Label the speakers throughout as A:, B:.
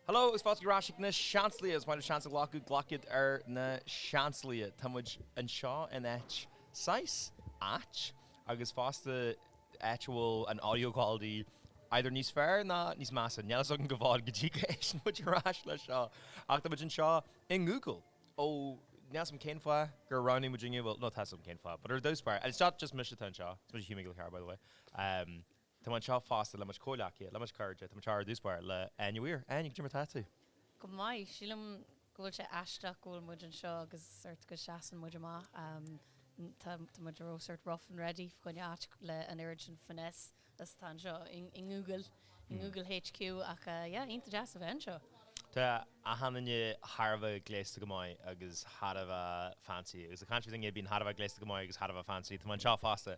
A: Hello agus fáilte ar ais ag na Seansálaithe. Más féidir seans a ghlacadh, glacfaidh ar na Seansálaithe. Tá muid anseo in áit, saghas ait, agus fosta áit a bhfuil an audio quality either níos fearr ná níos measa. Níl fhios agam go bhfad go dtí go n-éisteann muid ar ais le seo. Ach tá muid anseo i nGoogle. Ó, níl fhios agam cén fáth gur roghnaigh muid inniu, bhuel, no, tá fhios agam cén fáth, but ar dtús báire, and it's not just mise atá anseo, is mise Hugh Mac Giolla Chearra, by the way. Tá muid anseo fosta le mo chuid comhghleacaithe, le mo chuid cairde. Tá muid anseo ar dtús báire le Áine Mhaoir. Áine, cad é mar tá tú? Go
B: maith. Sílim go bhfuil sé aisteach go bhfuil muid anseo agus sort go seasann muid amach. Tá muid ró sort rough and ready fá choinne áit le an oiread sin finesse is atá anseo i nGoogle, i nGoogle HQ ach yeah, iontach deas a bheith anseo.
A: Tá achan duine thar a bheith gléasta go maith agus thar a bheith fancy agus ag caint faoi daoine a bhíonn thar a bheith gléasta go maith agus thar a bheith fancy, tá muid anseo fosta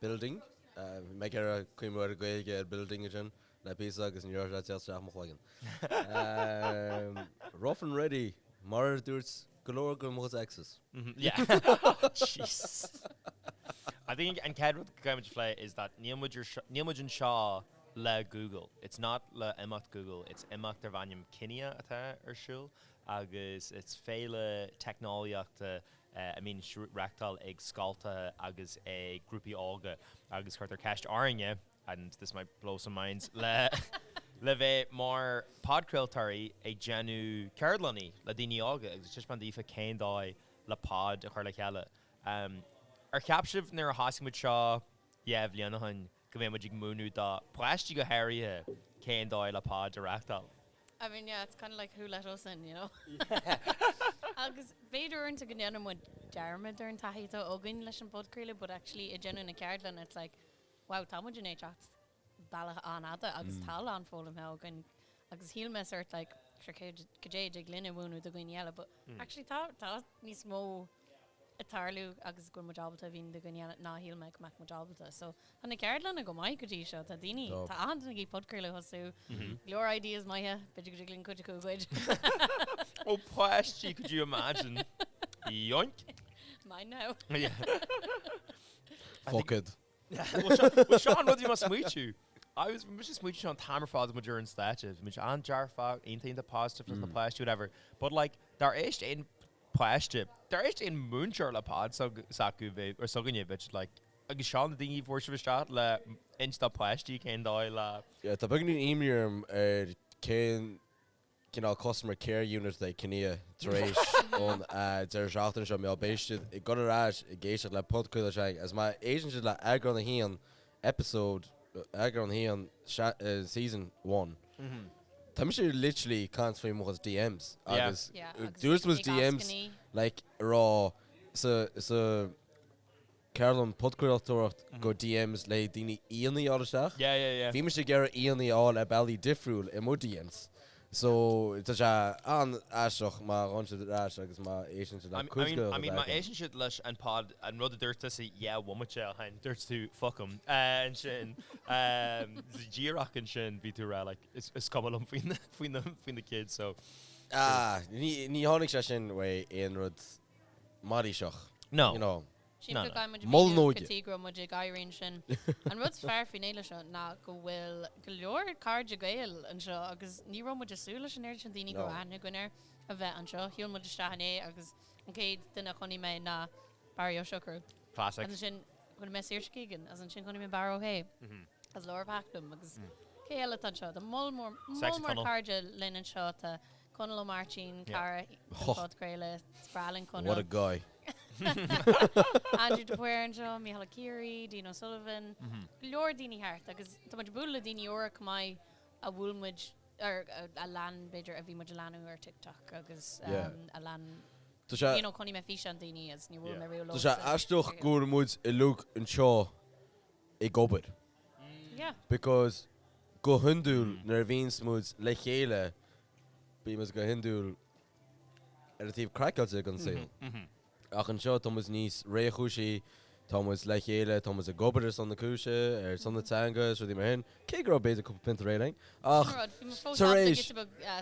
C: building. Bhí mé ag iarraidh cuimhniú ar an Ghaeilge ar building ansin le píosa agus ní raibh sé ag teacht isteach i mo chloigeann. Rough and ready mar a dúirt go leor de mo exes.
A: I think an chéad rud go gcaithfimid a phlé is that níl muid ar seo, níl muid anseo le Google. It's not le imeacht Google, it's imeacht darb ainm Kinia atá ar siúl agus it's féile teicneolaíochta a mbíonn á reachtáil ag scoltacha agus ag grúpaí óga agus cuirtear ceist orainne, and this might blow some minds, le bheith mar podchraoltóirí ag déanamh ceardlannaí le daoine óga agus ag taispeáint daofa cén dóigh le pod a chur le chéile. Ar cheap sibh nuair a thosaigh muid seo dhá bhliain ó shin, go mbeadh muid ag múineadh do pháistí go háirithe cén dóigh le pod a reachtáil. I mean yeah
B: it's kind of like who let us in you know? Agus b'fhéidir uaireanta go ndéanann muid dearmad ar an taithí atá againn leis an bpodchraoladh but actually ag déanamh na ceardlann it's like wow tá muid i ndiaidh teacht bealach an-fhada agus tá a lán foghlamtha againn agus shíl mé sórt like sure cad é a thig linn a mhúineadh do dhaoine eile but actually tá níos mó ag tarlú agus go bhfuil muid ábalta a mhíniú do dhaoine eile ná shíl mé go mbeadh muid ábalta. So tá na ceardlanna go maith go dtí seo. Tá daoine, Tá. tá achan duine ag iarraidh podchraoladh a thosú. Go leor ideas maithe, b'fhéidir go dtig linn cuid acu a ghoid.
A: Ó páistí, could you imagine? Yoink! Mine
B: now. Yeah.
C: Fuck it.
A: Bhuel seo an rud a bhí mé ag smaoitiú. I was, bhí mise ag smaoitiú seo an t-am ar fad agus muid ar an stáitse. Bhí mise an-dearfach, iontach positive leis na páistí whatever. But like, dar éist aon páiste, dar éist aon múinteoir le pod sag- s'acu bhí, or s'againne bheadh sé like, agus seo na daoine a fuair sibh isteach le insint do pháistí cén dóigh le. Yeah, tá beagáinín imní
C: orm ar cén cineál customer care unit de Kinia tar éis an deireadh seachtaine seo. Má bhíonn siad ag dul ar ais ag éisteacht le Pod Caol Seang agus má éisteann siad le eagrán a haon, episode, eagrán a haon, season one, tá mise literally ag caint faoi mo chuid DMs
B: agus dúirt mo chuid DMs
C: like ag rá sa, sa, ceardlann podchraoltóireacht go DMs le daoine aíonna a fháil isteach. Yeah yeah yeah. Bhí mise
A: ag iarraidh
C: aíonna a fháil ar bealaí difriúil i mo DMs. So tá sé an-aisteach má ghabhann siad ar ais agus má éisteann siad le cuid de. I mean má
A: éisteann siad leis an pod an rud a dúirt tusa dhá bhomaite ó shin dúirt tú fuck 'em ansin díreach ansin bhí tú a rá like is cuma liom faoi na kids so.
C: Ní tháinig sé sin uaidh aon rud. mailíseach, no, you
A: know. Sin No,
C: go no. gcaithfidh muid
B: Mull míniú nó go aige.
C: dtí go raibh muid ag
B: éirí ansin. An rud is fearr faoin fhéile seo ná go bhfuil go leor cairde Gael anseo agus ní raibh muid ag súil leis an oiread sin daoine go No. raibh aithne againn orthu a bheith anseo. Shiúil muid isteach inné agus an chéad duine a chonaic mé ná Barry Ó Siochrú. Classic. As
A: ansin
B: chonaic mé Saoirse Keegan, as ansin chonaic mé Barra Ó hÉ, is Laura Pakenham agus cé eile atá anseo? Tá moll mór, Sexy moll mór Tunnel. cairde linn anseo atá Conall Ó Máirtín, cara den phodchraoladh, is breá linn Conall. What a guy. Aindriú de Paor anseo, Micheál Ó Ciaraidh, Dean O'Sullivan, go leor daoine thart agus tá muid ag bualadh le daoine úra chomh maith a bhuail muid ar, a lean b'fhéidir, a bhí muid a leanadh ar TikTok agus a lean, you know, chonaic mé físeáin daoine agus níor bhuail mé riamh leo. Tá sé aisteach go bhfuil
C: muid uilig anseo ag obair. Because go hiondúil nuair a bhíonns muid le chéile bíonns muid go hiondúil ar an taobh craiceáilte ag an saol. Ach anseo tá muid níos réchúisí, tá muid le chéile, tá muid ag obair ar son na cúise, ar son na teanga is rudaí mar sin, cé go raibh b'fhéidir cúpla pionta aréir againn. Ach tar éis,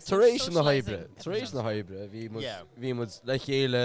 C: tar éis na hoibre, tar éis na hoibre bhí muid, bhí muid le chéile.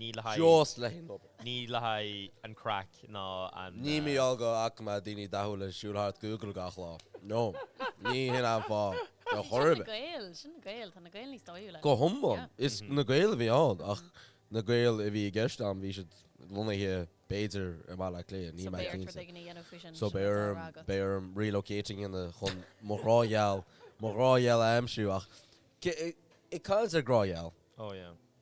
A: Ní le haghaidh. Just le
C: haghaidh obair. Ní le
A: haghaidh an craic ná an. Ní mar gheall go bhfaca
C: mé daoine dathúil ag siúl thart Google gach lá. No. Ní hin an fáth. Ar chor ar bith. Sin na Gaeil. Sin na Gaeil. Tá na Gaeil níos
B: dóighiúla. Go hiomlán. Is
C: na Gaeil a bhí ann ach na Gaeil a bhí i gceist agam bhí siad lonnaithe b'fhéidir i mBaile Átha Cliath. Níl mé cinnte. So beidh ort rud éigin a dhéanamh faoi sin. So beidh orm, beidh orm relocating in a chun mo ghrá gheal, mo ghrá gheal a aimsiú ach ag caint ar grá gheal. Oh yeah.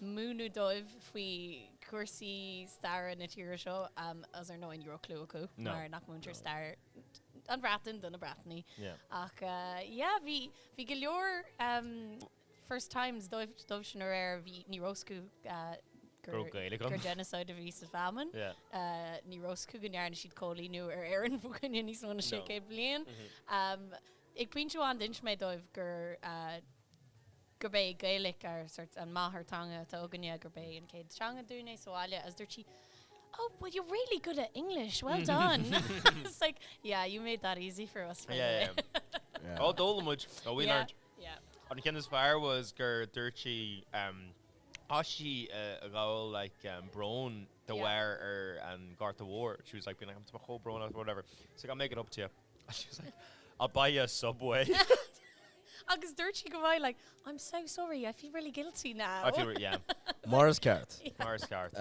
B: múineadh dóibh faoi chúrsaí staire na tíre seo agus ar ndóigh ní raibh clue acu mar nach múintear stair an Bhreatain do na Breatanaigh ach yeah bhí bhí go leor first times dóibh dóibh sin aréir bhí ní raibh 's acu gur genocide a bhí sa famine ní raibh 's acu go ndearna siad cóilíniú ar Éirinn faoi choinne níos mó na sé chéad bliain ag pointe amháin d'inis mé dóibh gur gurb é Gaelic ár sort an máthairtheanga atá againne, gurb é an chéad teanga dúinn é sa bhaile agus dúirt sí Oh, well you're really good at English, well done. It's like, yeah, you made that easy for us, by the way. Yeah.
A: Oh, d'fhoghlaim muid. Oh, we learned. Yeah, yeah. An ceann is fearr was gur dúirt sí um chaith sí a ghabháil like um brón Yeah. de bharr an Ghorta Mhóir. She was like being like I'm tá brón orm or whatever. She's like, I'll make it up to you. And she was like, I'll buy you a
B: Subway. Agus dúirt sí go bhfuil like, I'm so sorry, I feel really guilty now. I feel re- yeah.
A: Mar is ceart.
C: Mar is ceart.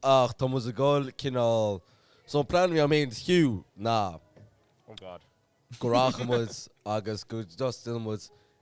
C: Ach tá muid ag gol cineál, so an plean a bhí agam féin is Hugh ná. Oh God.
A: go rachadh muid
C: agus go dtosnódh muid.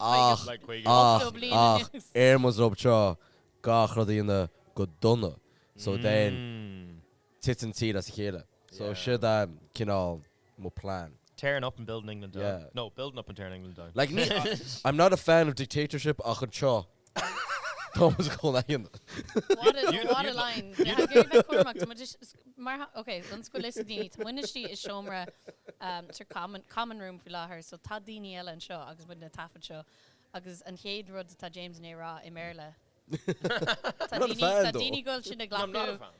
B: Ach,
C: ach,
A: ach, ar
C: mo dhrob trá, gach rud a dhéanamh go dona. So then, titeann tír as a chéile. So siod a, cineál, mo plean. Tearing up and building
A: England down. Yeah. No, building up and tearing
C: England
A: down. Like, ní, I'm
C: not a fan of dictatorship ach anseo, Thomas Cullinane. What a what a
B: line. Bhí ag iarraidh bheith cúramach. Tá muid is mar ok d'fhan scoil is ag daoine. Tá muid istigh i seomra um sort common common room faoi láthair so tá daoine eile anseo agus muid á thaifead seo agus an chéad rud atá James á rá i mBéarla Tá daoine tá daoine ag gabháil a bheith ag glacadh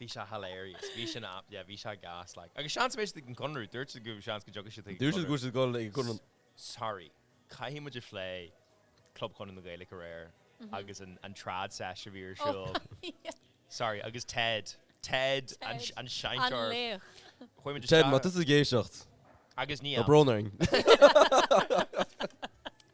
A: Bhí sé hilarious. Bhí sé na, yeah, bhí sé gas like. Agus seans go mbeidh siad ag an gConradh. Dúirt siad go bhfuil seans go dtiocfaidh siad chuig an Dúirt siad go bhfuil siad Conradh. ag an
C: Conradh. Sorry.
A: Caithfidh muid a phlé Club Chonradh na Gaeilge aréir agus an, an trad sesh a bhí ar siúl. Oh yeah. Sorry, agus Ted. Ted an, Ted an seinnteoir. an laoch. Ted,
C: má tá tusa ag éisteacht, agus Nia, tá
A: brón orainn.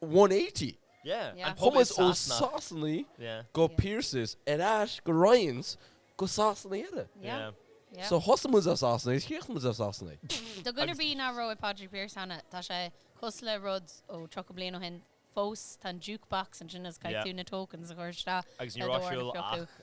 C: 180. Yeah. Yeah.
A: Chuaigh muid ó
B: Sasanaigh.
C: Sasanaigh Yeah. go Yeah. Pearses ar ais go Ryans go Sasanaigh eile. Yeah. Yeah. Yeah. So
A: thosaigh
C: muid as Sasanaigh is chríochnaigh muid as Sasanaigh. Do dhuine ar bith
B: ná raibh ag Pádraig Pearse cheana, tá sé cosúil le rud ó 30 bliain ó shin fós, tá an jukebox ansin agus Yeah. caithfidh tú na tokens a chur isteach Agus ní raibh sé ar siúl fiú. ach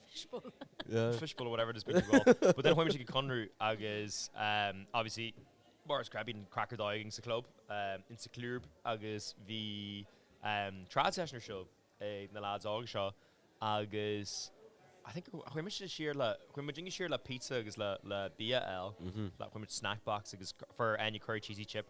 C: Fishbowl.
A: Yeah. Fishbowl or whatever it is bean fear ball. But then chuaigh mise go Conradh agus um obviously mar is ceart bíonn craic ar dóigh againn sa club um insa club agus bhí um trad session ar siúl ag na lads óga seo agus I think chuaigh mise siar le chuaigh muid siar le pizza agus le le bia a fháil. Chuaigh muid snack box agus for any curry cheesy chip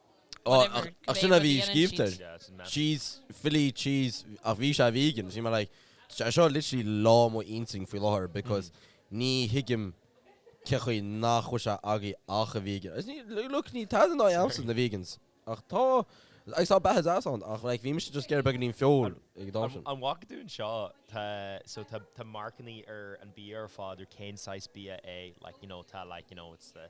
C: Ó, ach, ach sin a bhí scríobhta air. Cheese, Philly cheese, ach bhí sé vegan, so mar like, tá sé seo literally ag leá mo intinn faoi láthair because ní thuigim cé chaoi nach bhfuil sé agaibh ach a vegan. Agus ní, look, níl tada ina n-aghaidh a'msa na vegans, ach tá, agus tá beatha deas ann, ach like bhí mise just ag iarraidh beagáinín feoil ag dá sin. An bhfaca
A: tú anseo, tá, so tá, tá marcannaí ar an bia ar fad ar cén saghas bia é, like, you know, tá like, you know, it's the,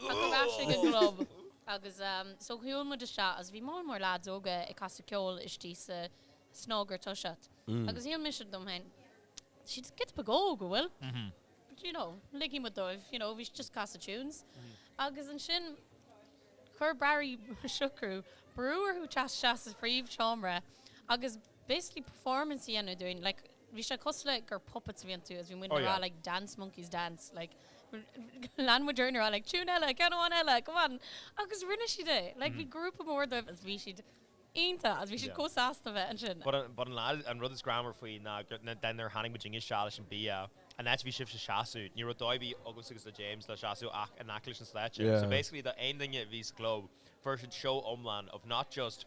C: Ach ar ais ag an
B: gClub agus so shiúil muid isteach agus bhí mórán mór leaids óga ag casadh ceoil istigh sa snug ar toiseacht agus shíl mise dom féin tá siad giota beag óg a' bhfuil? But you know ligfidh muid dóibh you know bhí siad just ag casadh tunes agus ansin chuir Barry Siochrú brú orthu teacht isteach sa phríomhsheomra agus basically performance a dhéanamh dúinn like bhí sé cosúil le gur puppets a bhí iontu agus bhí muidne ag rá like dance monkeys dance like lean muid orainn a rá like tune eile, ceann amháin eile, come on agus rinne siad é like bhí grúpa mór dóibh agus bhí siad iontach agus bhí siad chomh sásta bheith ansin. But an, but an lá, an
A: rud is greannmhar faoi ná nuair a tháinig muidne isteach leis an bia an áit a bhí sibhse ag seasamh ní raibh dóigh ar bith agamsa agus le James le seasamh ach in aice leis an stáitse so basically do aon duine a bhí sa gclub fuair siad seó iomlán of not just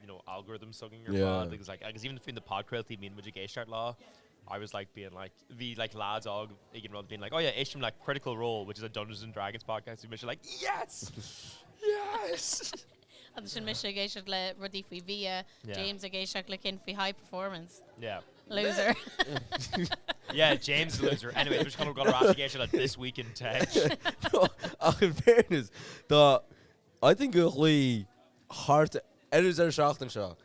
A: you know, algorithms againn ar fad agus like agus even faoi na podchraoltaí a mbíonn muid ag éisteacht leo I was like being like bhí like lads óg ag an rud being like oh yeah éistim le Critical Role which is a Dungeons and Dragons podcast bhí mise like yes! Yes!
B: Agus ansin mise ag éisteacht le rudaí faoi bhia, James ag éisteacht le cinn faoi high performance. Yeah.
A: Loser. Yeah, James is a loser. Anyway, tá mise chun a ghabháil ar ais ag éisteacht le This Week in Tech.
C: Ach in fairness dá I think really thar an deireadh seachtain seo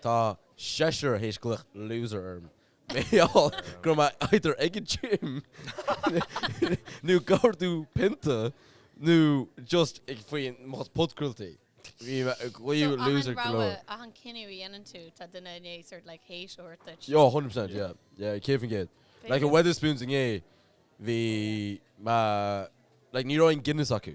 C: tá seisear théis glaoch loser orm. Mar gheall go raibh mé either ag an gym nó ag ordú pionta nó just faoi mo chuid podchraoltaí. Bhí mé ag glaoch loser go leor. So achan rogha, achan cinneadh a
B: dhéanann tú tá duine i ndiaidh sort like hate a thabhairt duit. Yo, hundred percent yeah,
C: yeah céad faoin gcéad. Like i Wetherspoons inné bhí like ní raibh aon Guinness acu.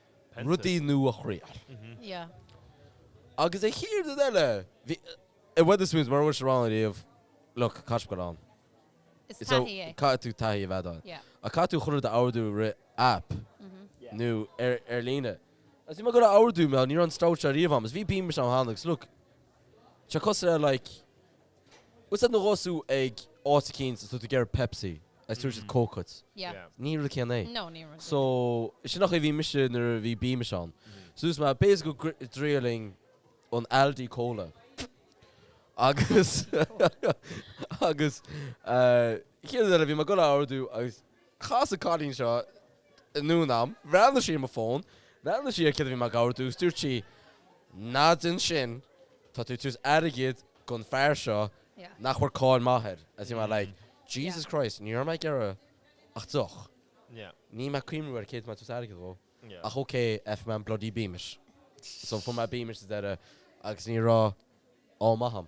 C: rudaí nua a thriáil. Agus an chéad rud eile, bhí, i Wetherspoons, mura raibh sibh ann ariamh, look, caithfidh sibh gabháil ann. Is
B: taithí é. Caithfidh tú
C: taithí a bheith ann. Ach caithfidh tú chuile rud a ordú trí aip nó ar líne. Agus bhí mé ag iarraidh ordú, mar ní raibh an stout seo ariamh a'm. Agus bhí Beamish a'm cheana agus look, tá sé cosúil le like, Tá's a'd nuair a ghabhas tú ag áit eicínt is tú ag iarraidh Pepsi agus tabharfaidh siad Coke dhuit. Yeah. Ní rud céanna é. No, ní rud céanna é. So,
B: sin an
C: chaoi a bhí mise nuair a bhí Beamish ann. So dúirt mé, b'fhéidir go gcr- dtriailfinn an Aldi Cola. Agus, agus, eh, chéad rud eile bhí mé ag dul a ordú agus Cas an cailín seo dhom ann. Bhreathnaigh sí ar mo fón. Bhreathnaigh sí ar céard a bhí mé ag abairt. Agus dúirt sí, ná déan sin, tá tú ag tabhairt airgid gon fear seo nach bhfuair cáil mhaith air. Agus bhí mé like, Jesus Christ, ní raibh mé ag iarraidh ach deoch. Ní raibh mé ag cuimhniú ar céard a bhí mé ag tabhairt airgid dhó. Ach ok, F man, bloody Beamish. So fuair mé Beamish sa deireadh agus ní raibh ádh maith a'm.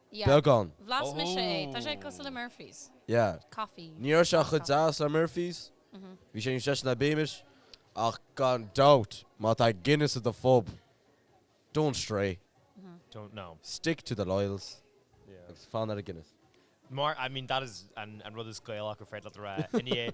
A: Yeah.
B: Beagán.
C: Bhlas mise é.
B: Tá sé cosúil le Murphy's. Yeah.
C: Coffee. Ní raibh sé
B: Black coffee. chomh
C: deas le Murphy's. Bhí sé níos deise ná Beamish. Ach gan doubt, má tá Guinness at the pub, don't stray. Don't
A: know. Stick to the loyals.
C: Yeah. Agus fan
A: ar an Guinness.
C: Mar, I mean,
A: that is an rud is Gaelaí ar féidir leat a rá. I ndiaidh